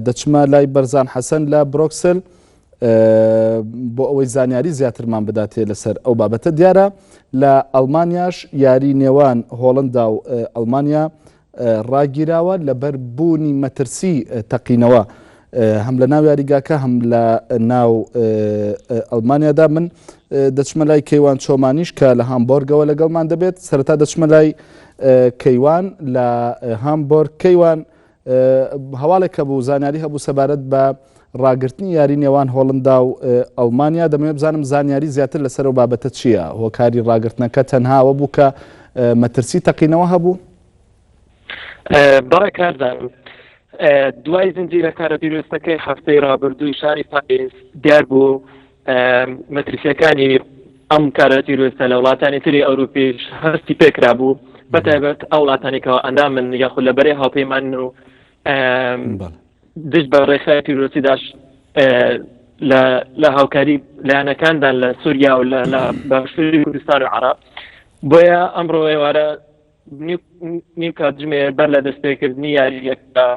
دەچمە لای بەرزان حەسەن لە برۆکسل بۆ ئەوەی زانیاری زیاترمان بداتێ لەسەر ئەو بابەتە دیارە لە ئەلمانیاش یاری نێوان هۆڵندا و ئەلمانیا ڕاگیراوە لەبەر بوونی مەترسی تەقینەوە هەم لە ناو یاریگاکە هەم لە ناو ئەلمانیادا من دەچمە لای کەیوان چۆمانیش کە لە هامبۆرگەوە لەگەڵمان دەبێت سەرتا دەچمە لای کەیوان لە هامبۆرگ کەیوان هەواڵێک هەبوو زانیاری هەبوو سەبارەت بە ڕاگرتنی یاری نێوان هۆڵندا و ئەڵمانیا دەمەوێت بزانم زانیاری زیاتر لەسەر و بابەتە چییە هۆکاری ڕاگرتنەکە تەنهاوە بوو کە مەترسی تەقینەوە هەبوو بەڕێ کاردان دوای زنجیرە کارە پیرۆستەکەی هەفتەی ڕابردووی شاری پاریس دیار بوو مەترسیەکانی ئەم کارە تیرۆستە لە وڵاتانی تری ئەوروپیش هەستی پێکرا بوو بەتایبەت ئەو وڵاتانێکەوە ئەندا من یاخود لە بەرەی هاوپەیمان و دژ بە ڕێخای تیرۆسیداش لە هاوکاری لایەنەکاندان لە سووریا و لە باشوری کوردستان و عرب بۆیە ئەمڕۆ ئێوارە نیو کاتژمێر بەر لە دەستپێکردنی یاریەکە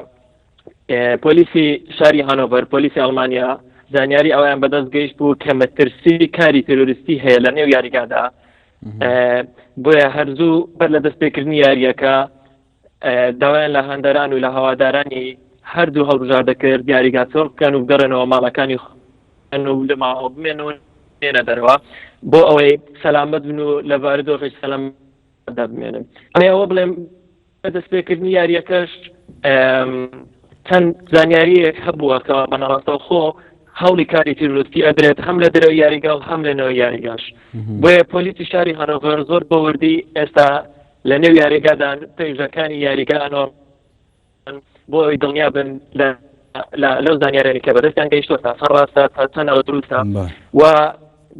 پۆلیسی شاری هانۆڤەر پۆلیسی ئەڵمانیا زانیاری ئەویان بەدەست گەیشت بوو کە مەترسی کاری تەرۆریستی هەیە لە نێو یاریگادا بۆیە هەرزوو بەر لە دەستپێکردنی یاریەکە داوایان لە هەندەران و لە هەوادارانی هەردوو هەڵبژار دەکرد یاریگا چۆڵ بکەن و بگەڕێنەوە ماڵەکانی و لە ماوە بمێن و نێنە دەرەوە بۆ ئەوەی سەلامەت بن و لە بارودۆخی سەلام دەبمێنن ئەوە بڵێم لە دەستپێکردنی یارییەکەش چەند زانیارییەک هەبووە کەوا بەنەڕاستەوخۆ هەوڵی کاری تیرۆستی ئەدرێت هەم لە درەوە یاریگا و هەم لەنەوە یاریگاش بۆیە پۆلیسی شاری هەرۆڤەر زۆر بە وردی ئێستا لە نێو یاریگادان پێژەکانی یاریگانۆ بۆ ئەوی دڵنیا بن لە لەو زانیارێنی کە بەدەستیان گەیشتوە تا سەر ڕاستە تا چەندەوە دروستە و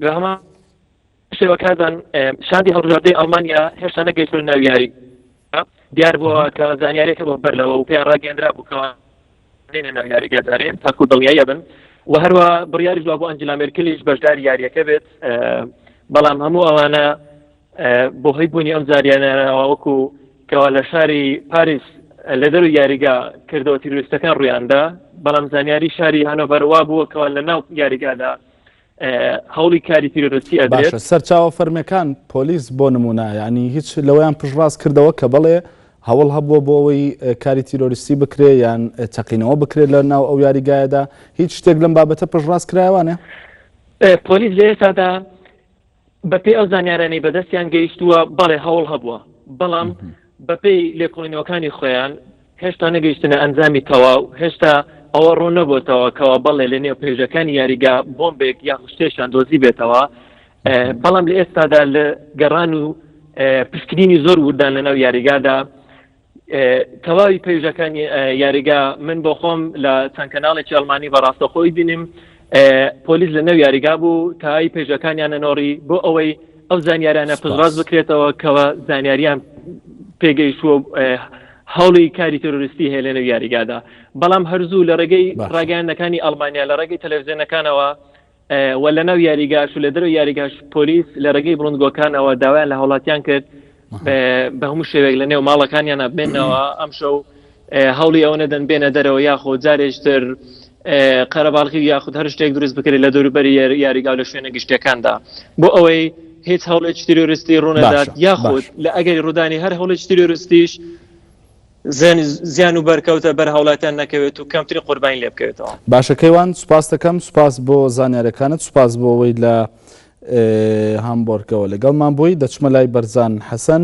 بەهمان شێوە کازان شاندی هەڵبژاردەی ئەڵمانیا هێشتا نەگەیشتە ناو یاری دیار بووە کە زانیارێکە بۆ بەر لەوە و پێیان ڕاگەندرا بووکەوە دێنە ناو یاری گەزارێن تاکو دڵنیایە بن و هەروە بڕیاری جواب بۆ ئەنجلا مێرکلیش بەشدار یاریەکە بێت بەڵام هەموو ئەوانە بۆ هەی بوونی ئەم زاریانەوە وەکو کەوا لە شاری پاریس لە دەرو یاریگا کردەوە تیررویستەکان ڕویاندا بەڵام زانیاری شاری هەنۆڤەروا بووەکەوە لە ناو یاریگادا هەوڵی کاری تیرۆرستی ئەدرێت سەرچاوە فەرمەکان پۆلیس بۆ نمونە ینی هیچ لەوەیان پشڕاست کردەوە کە بڵێ هەوڵ هەبووە بۆ ئەوەی کاری تیرۆریستی بکرێ یان چەقینەوە بکرێت لە ناو ئەو یاریگایەدا هیچ شتێک لەم بابەتە پشڕاست کرایوانە پۆلیس لە ئێستادا بەپێی ئەو زانیارانەی بەدەستیان گەیشتووە بەڵێ هەوڵ هەبووە بەڵام بەپێی لێکۆڵینەوەکانی خۆیان هێشتا نەگەیشتنە ئەنجامی تەواو هێشتا ئەوە ڕوون نەبووتەوە کەەوە بەڵێ لە نێو پێژەکانی یاریگا بۆمبێک یا خوشتێشان دۆزی بێتەوە بەڵام لە ئێستادا لە گەڕان و پشکنینی زۆر وردان لەناو یاریگادا تەواوی پەیژەکان یاریگا من بۆ خۆم لە چەند کەناڵێکی ئەلمانی بەڕاستە خۆی بینیم پۆلیس لە نەو یاریگا بوو تای پێژەکانیان نەنۆڕی بۆ ئەوەی ئەو زانیاریانە پزڕاز بکرێتەوە کەەوە زانیاریان پێگەیشتووە هەوڵی کاری تەرۆریستی هەیە لە نەو یاریگادا بەڵام هەرزوو لە ڕێگەی ڕاگەیانەکانی ئەلمانیا لە ڕێگەی تەلەڤزیۆنەکانەوە و لەناو یاریگاش و لە دەرەوەی یاریگاش پۆلیس لە ڕێگەی بڵندگۆکانەوە داوایان لە هاوڵاتیان کرد بە هەموو شێوێک لە نێو ماڵەکانیان ئەبێنەوە ئەم شەو هەوڵی ئەوە نەدەن بێنە دەرەوە یاخۆ جارێشتر قەرەباڵخی یاخود هەر شتێک دروست بکرێت لە دەوروبەری یاریگا لە شوێنە گشتەکاندا بۆ ئەوەی هیچ هەوڵێک تیرۆریستی ڕوونەدات یاخود لە ئەگەری ڕوودانی هەر هەوڵێک تیرۆریستیش زیان و بەرکەوتە بەر هاوڵاتیان نەکەوێت و کەمترین قوربانی لێ بکەوێتەوە. باشە کەیوان سوپاست دەکەم سوپاس بۆ زانیارەکانت سوپاس بۆ ئەوەی لە هامبۆرگەوە لەگەڵمان بووی دەچمە لای بەرزان حەسەن.